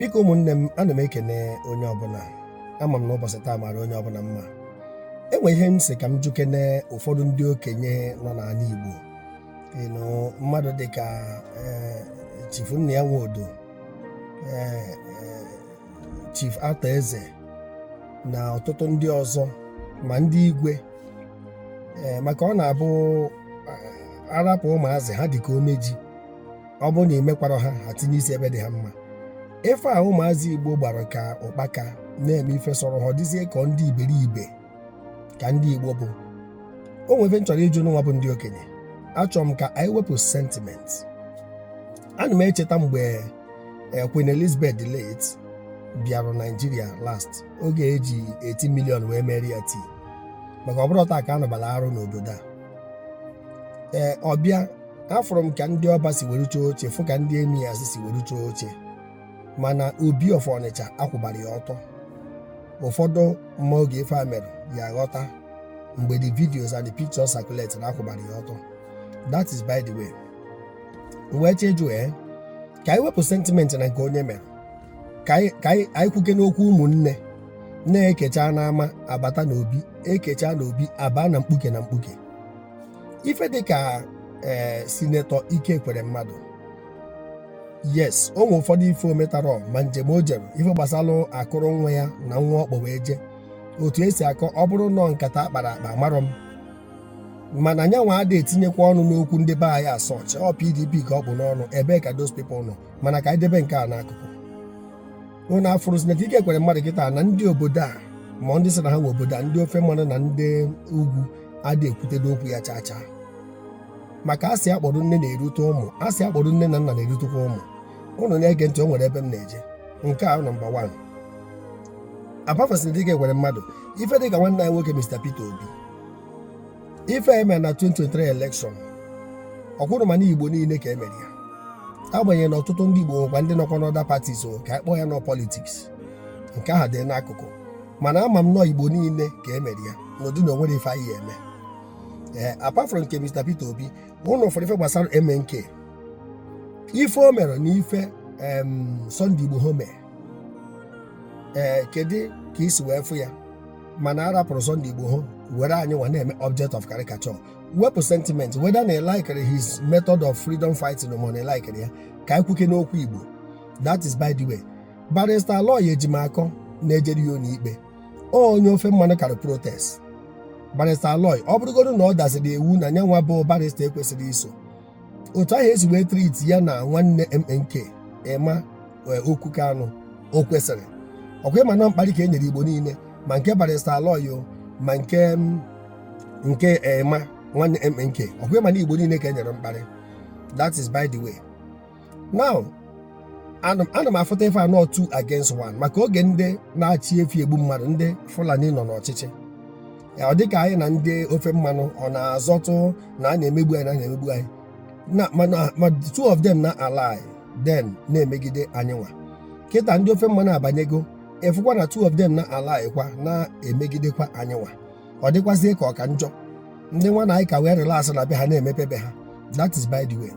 biko ụmụnne m ana m ekene onye ọbụla ama m na ụbọchị taa mara onye ọbụla mma o nwe ihe m sị ka m jụkene ụfọdụ ndị okenye nọ n'ala Igbo ịnụ mmadụ dịka eh, Chief Nnia Nwodo eh, eh, Chief Arthur Eze na ọtụtụ ndị ọzọ ma ndị igwe maka ọ na-abụ a rapụ ụmụazị ha dịka ome ji ọ bụrụ na i mekwarọ ha ha tinye isi ebe dị ha mma ife a ụmụazị igbo gbara ka ụkpaka na-eme ife sọrọ ha ọ dịzie ka ndị iberibe ka ndị igbo bụ o nwere ife m chọrọ ịjụ ụnụ nwa bụ ndị okenye achọrọ m ka anyị wepụ sentiment ana m echeta mgbe eh, Queen Elizabeth the late bịara Naijiria last oge e ji 80 million wee meere ya tii maka ọ bụrọ taa ka a nụbara arụ n'obodo a ee ọ bịa afụrụ m ka ndị ọba si were chọọ oche fụ ka ndị emirs si were chọọ oche mana obi of ọnịcha a kwụbara ya ọtọ ụfọdụ ma oge ife a mere ya aghọta mgbe the videos and the pictures circulate na a kwụbara ya ọtọ that is by the way wee chejuo ee ka anyị wepụ sentimenti na nke onye mere ka anyị ka anyị anyị kwukene okwu ụmụnne na e kechaa n'ama a bata n'obi e kechaa n'obi a baa na mkpuke na mkpuke ife dịka ee sinetọ Ike Ekweremadu yes o nwere ụfọdụ ife o metarọ mma njem o jere ife gbasara akụrụ nwa ya na nwa ọ kpọ wee jee otu e si akọ ọ bụrụ nọ nkata a kpara akpa amarọ m mana nyanwa adị etinyekwa ọnụ n'okwu ndị be anyị as such ọ PDP ka o bu n'ọnụ ebee ka those people nọ mana ka anyị debe nke a n'akụkụ unu afụrụ sinetọ Ike Ekweremadu kịta na ndị obodo a ma ndị sị na ha nwe obodo a ndị ofe mmanụ na ndị ugwu adị ekwutedo okwu ya chaa chaa maka asị akpọrọ nne na-erute ụmụ asị akpọrọ nne na nna na-erutekwa ụmụ ụnụ na-ege ntị o nwere ebe m na-eje nke a nọmba wan apart from sinetọ Ike Ekweremadu ife dịka nwanne anyị nwoke Mr Peter Obi ife e me na 2023 elekshọn ọ kwụrụ ma n'igbo niile ka emere ya agbanyeghị na ọtụtụ ndị igbo nwekwa ndị nọkwa n'other parties o ka a kpọọ ya nọ politiks nke ahụ dị n'akụkụ mana ama m nọ igbo niile ka emere ya n'ụdị na o nwere ife anyị eme ee apart from nke Mr Peter Obi unu fụrụ ife gbasara MNK ife o mere na ife Sunday Igboho me ee kedu ka i si wee fụ ya mana a rapụrụ Sunday Igboho were anyị nwa na-eme object of caricature wepụ sentiment whether na i likere his method of freedom fighting ma na i likere ya ka anyị kwukene okwu Igbo that is by the way barrister Aloy Ejimakor na-ejere ya n'ikpe ọ onye ofe mmanụ kara protest barrister Aloy ọ bụrụgodu na ọ daziri iwu na nyanwa bụ barrister ekwesịrọ iso otu ahụ e si wee treat ya na nwanne MNK Emma e, Okwu Kanu o kwesịrị ọkwa ịma na mkparị ka e nyere Igbo niile ma nke Barrister Aloy ma nke nke Emma nwanne MNK ọkwa ịma na Igbo niile ka e nyere mkparị that is by the way now ana m afụta ife a na ọ two against one maka oge ndị na-achị efi egbu mmadụ ndị Fulani nọ n'ọchịchị ọ dịka anyị na ndị ofe mmanụ ọ na-azọtụ na a na-emegbu anyị na na-emegbu anyị ma two of them na-ally then na-emegide anyị nwa kịta ndị ofe mmanụ abanyego ị fụkwa na two of them na-ally kwa na-emegidekwa anyị nwa ọ dịkwazie ka ọ ka njọ ndị nwa na anyị ka wee relax na be ha na-emepe be ha that is by the way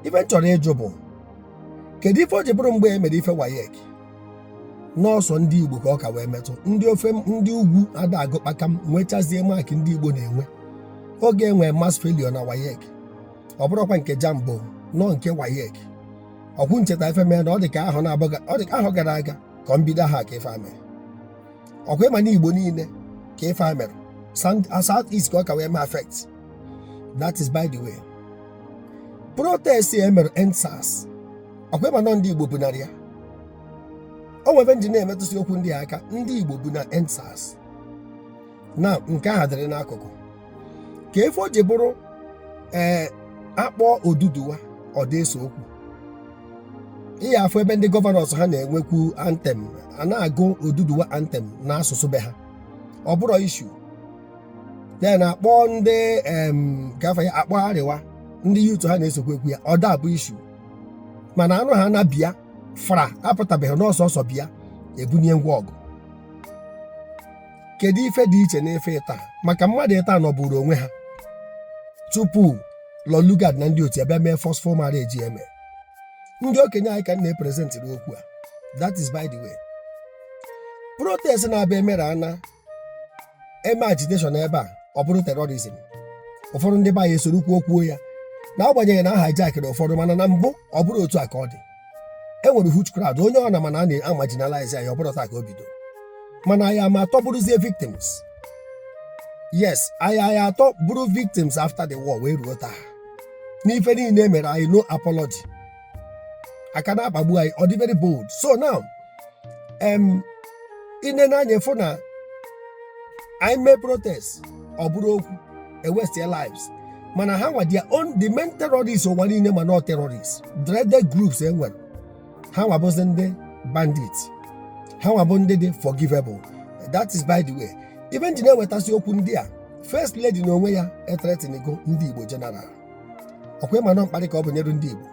ife m chọrọ ịjụ bụ kedu ife o ji bụrụ mgbe e mere ife WAEC na ọ sọ ndị Igbo ka ọ ka wee metụ ndị ofe ndị ugwu ada agụ kpakam nwechazie mark ndị Igbo na-enwe oge e nwe mass failure na WAEC ọ bụrụkwa nke JAMB o na ọ nke WAEC ọkwa ụnụ cheta ife mere na ọ dị ka ahọ gara aga ka ọ mbido ahọ a ka ife a mere ọkwa ịma na Igbo niile ka ife a mere South East ka ọ ka wee mee affect that is by the way protest e mere EndSARS ọkwa ịma na ọ ndị Igbo bunara ya o nwebe ndị na-emetụsị okwu ndị a aka ndị Igbo bu na EndSARS now nke ahụ dịrị n'akụkụ ka ife o ji bụrụ ee a kpọọ Oduduwa ọ da ese okwu ị ya-afụ ebe ndị governors ha na-enwekwu anthem a na-agụ Oduduwa anthem n'asụsụ be ha ọ bụrọ issue then a kpọọ ndị em gafe ya akpọ Arewa ndị youth ha na-esokwa ekwu ya ọ da abụ issue mana a nụha na Biafra apụtabe ha n'ọsọ ọsọ bịa ebunie ngwa ọgụ kedu ife dị iche n'ife ịtọ a maka mmadụ ịtọ a nọbụrụ onwe ha tupu Lord Lugard na ndị otu ya abịa mee forceful marriage eme ndị okenye anyị ka m na-epresentịrị okwu a that is by the way protest n'ebe a e mere a na-eme agitation ebe a ọ bụrụ terrorism ụfọdụ ndị be anyị esorokwuo kwuo ya n'agbanyeghị na a hijackịrị ụfọdụ mana na mbụ ọ bụrọ otu a ka ọ dị e nwere huge crowd onye ọ na ma na a na-amarginalize anyị ọ bụrọ taa ka o bido mana anyị ama atọ bụrụzie victims yes anyị anyị atọ bụrụ victims after the war wee ruo taa n'ife niile e mere anyị no apology a ka na-akpagbu anyị ọ dị very bold so now em i nene anya fụ na anyị mee protest ọ bụrụ okwu a waste their lives mana ha nwa their own the main terrorists ụwa niile ma nọ terrorists dreaded groups e nwere ha nwa bụzi ndị bandits ha nwa bụ ndị dị forgivable that is by the way ife nji na-ewetasị okwu ndị a first lady na onwe ya etretinigo ndị igbo general ọkwa ịma nọ mkparị ka o bunyere ndị igbo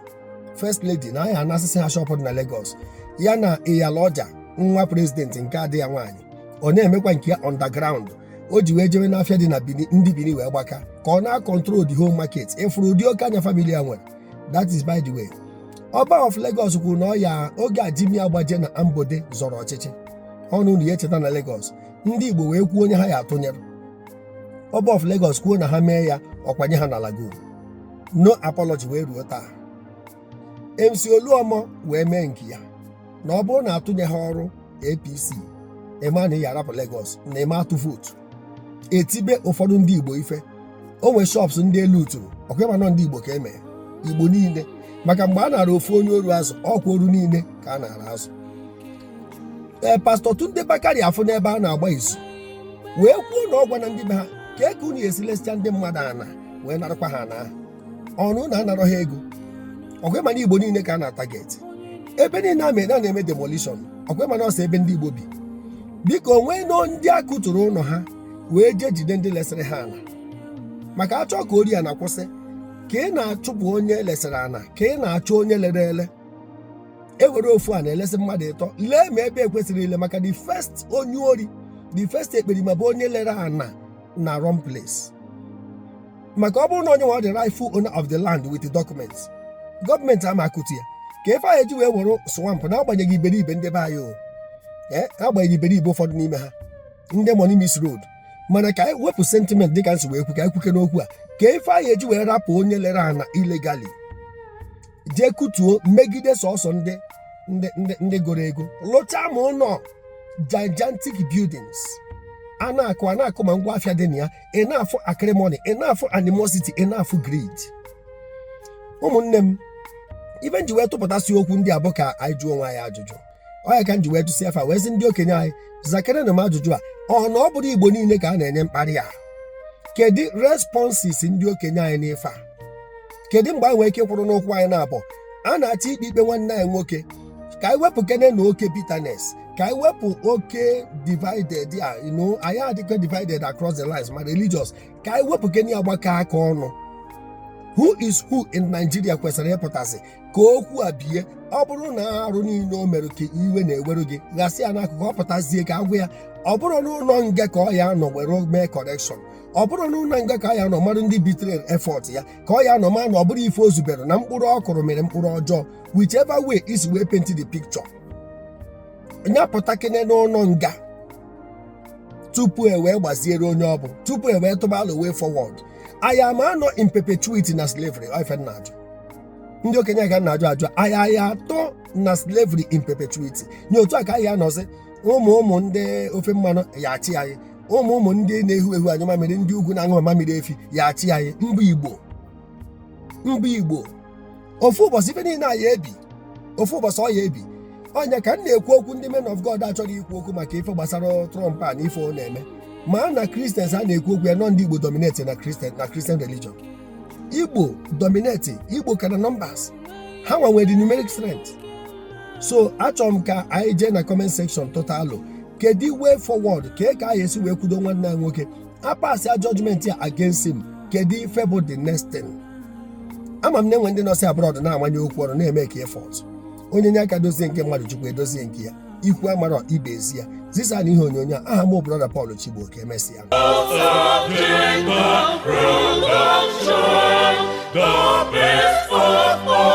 first lady na a ya-anasịsị ha shọpụ dị na Lagos ya na Iyaloja nwa prezidenti nke ada ya nwaanyị ọ na-emekwa nke ya underground o ji wee jewe n'afịa dị na Bini ndị Bini wee gbaka ka ọ na-akọntrol the whole market ịfụrụ ụdị oke anya famili a nwere that is by the way ọba of Lagos kwuru na ọ ya oge a Jimi Agbaje na Ambode zọrọ ọchịchị ọ na unu ya-echeta na Lagos ndị Igbo wee kwuo onye ha ya-atụnyere ọba of Lagos kwuo na ha mee ya ọ kwanye ha na Lagoon no apology wee ruo taa MC Oluomo wee mee nke ya na ọ bụrụ na atụnyehọrọ APC ị ma na ị ya-arapụ Lagos na ị ma-atụ vootu e tibe ụfọdụ ndị Igbo ife o nwee shops ndị e luuturu ọkwa ịma nọ ndị Igbo ka e mee Igbo niile maka mgbe a nara ofu onye oru azụ ọkwa oru niile ka a nara azụ ee pastọ Tunde Bakare afụ n'ebe a na-agba izu wee kwuo na ọ gwana ndị be ha kee ka unu esi lesịa ndị mmadụ ana wee narakwa ha na ọ na unu anarọ ha ego ọkwa ịma na igbo niile ka a na-atageti ebe niile a mere a na-eme demolition ọkwa ịma na ọ sọ ebe ndị igbo bi biko o nweena ndị a kụturu ụnọ ha wee jee jide ndị lesịrị ha ana maka a chọọ ka ori ana kwụsị ka ị na-achụpụ onye e lesịrị ana ka ị na-achọ onye lere ele e were ofu ana lesị mmadụ ịtọ lee ma ebe ekwesịrị ile maka the first onye ori the first ekperima bụ onye lere ana na wrong place maka ọ bụrụ na onye nwa ọ the rightful owner of the land with the documents gọọmenti ama akụtu ya kee ife a ya-eji wee were swamp n'agbanyeghị iberibe ndị be anyị o ee agbanyeghị iberibe ụfọdụ n'ime ha ndị money miss road mana ka anyị wepụ sentiment dịka nsi wee kwu ka anyị kwukene okwu a kee ife a ya-eji wee rapụ onye lere ana illegally jee kụtuo megide sọsọ ndị ndị ndị ndị goro ego lụchaa ma ụlọ gigantic buildings a na-akụ a na-akụ ma ngwa afịa dị na ya ị na-afụ acrimony ị na-afụ animosity ị na-afụ greed ụmụnne m ife nji wee tụpụtasị okwu ndị a bụ ka anyị jụọ onwe anyị ajụjụ ọ ya ka nji wee tụsịa fa wee sị ndị okenye anyị zakerenụ m ajụjụ a ọ na ọ bụrụ igbo niile ka a na-enye mkparị a kedu responses ndị okenye anyị n'ife a kedu mgbe anyị nwee ike kwụrụ n'ụkwụ anyị na-abụ a na-achọ ikpe ikpe nwanne anyị nwoke ka anyị wepụkenenụ oke bitterness ka anyị wepụ oke divided a you know anyị adịkwa divided across the lines ma religious ka anyị wepụ kene ya gbakọ aka ọnụ who is who in Nigeria kwesịrị ịpụtasị ka okwu a bie ọ bụrụ na arụ niile o mere ka iwe na-ewere gị ghasị ya n'akụkụ ọ pụtazie ka a gwa ya ọ bụrụ n'ụlọ nga ka ọ ya-anọ were mee correction ọ bụrụ n'ụlọ nga ka ọ ya-anọ mmadụ ndị bitere effort ya ka ọ ya-anọ ma na ọ bụrọ ife o zubere na mkpụrụ ọ kụrụ mịrị mkpụrụ ọjọọ whichever way i si wee paint the picture nya pụtakene n'ụlọ nga tupu e wee gbaziere onye ọ bụ tupu e wee tụba alo way forward anyị ama anọ in perpetuity na slavery ife m na-ajụ ndị okenye ka m na-ajụ ajụ anyị aya-atọ na slavery in perpetuity nye otu a ka anyị anọzi ụmụ ụmụ ndị ofe mmanụ ya-achị anyị ụmụ ụmụ ndị na-ehu ehu anyụ mamịrị ndị ugwu na-aṅụ mamịrị efi ya-achị anyị mba Igbo mba Igbo ofu ụbọchị ife niile a ya-ebi ofu ụbọchị ọ ya-ebi ọ nya ka m na-ekwu okwu ndị men of God achọghị ikwu okwu maka ife gbasara Trump a na ife ọ na-eme ma na Christians a na-ekwu okwu ya na ọ ndị Igbo dominate na Christian na Christian religion Igbo dominate Igbo ka na numbers ha nwe nwe the numeric strength so achọrọ m ka anyị jee na comment section tụta alo kedu way forward ka e ka anyị esi wee kwudo nwanne anyị nwoke a passịa judgment ya against him kedu ife bụ the next thing ama m na e nwe ndị nọsị abroad na-amanye okwu ọrụ na-eme ka effort onye nye aka dozie nke mmadụ Chukwu edozie nke ya ikwu amarọ ibe ezi ya zisanụ ihe onyonyo a aha m brother Paul Chigbo ka emesịa The best of all.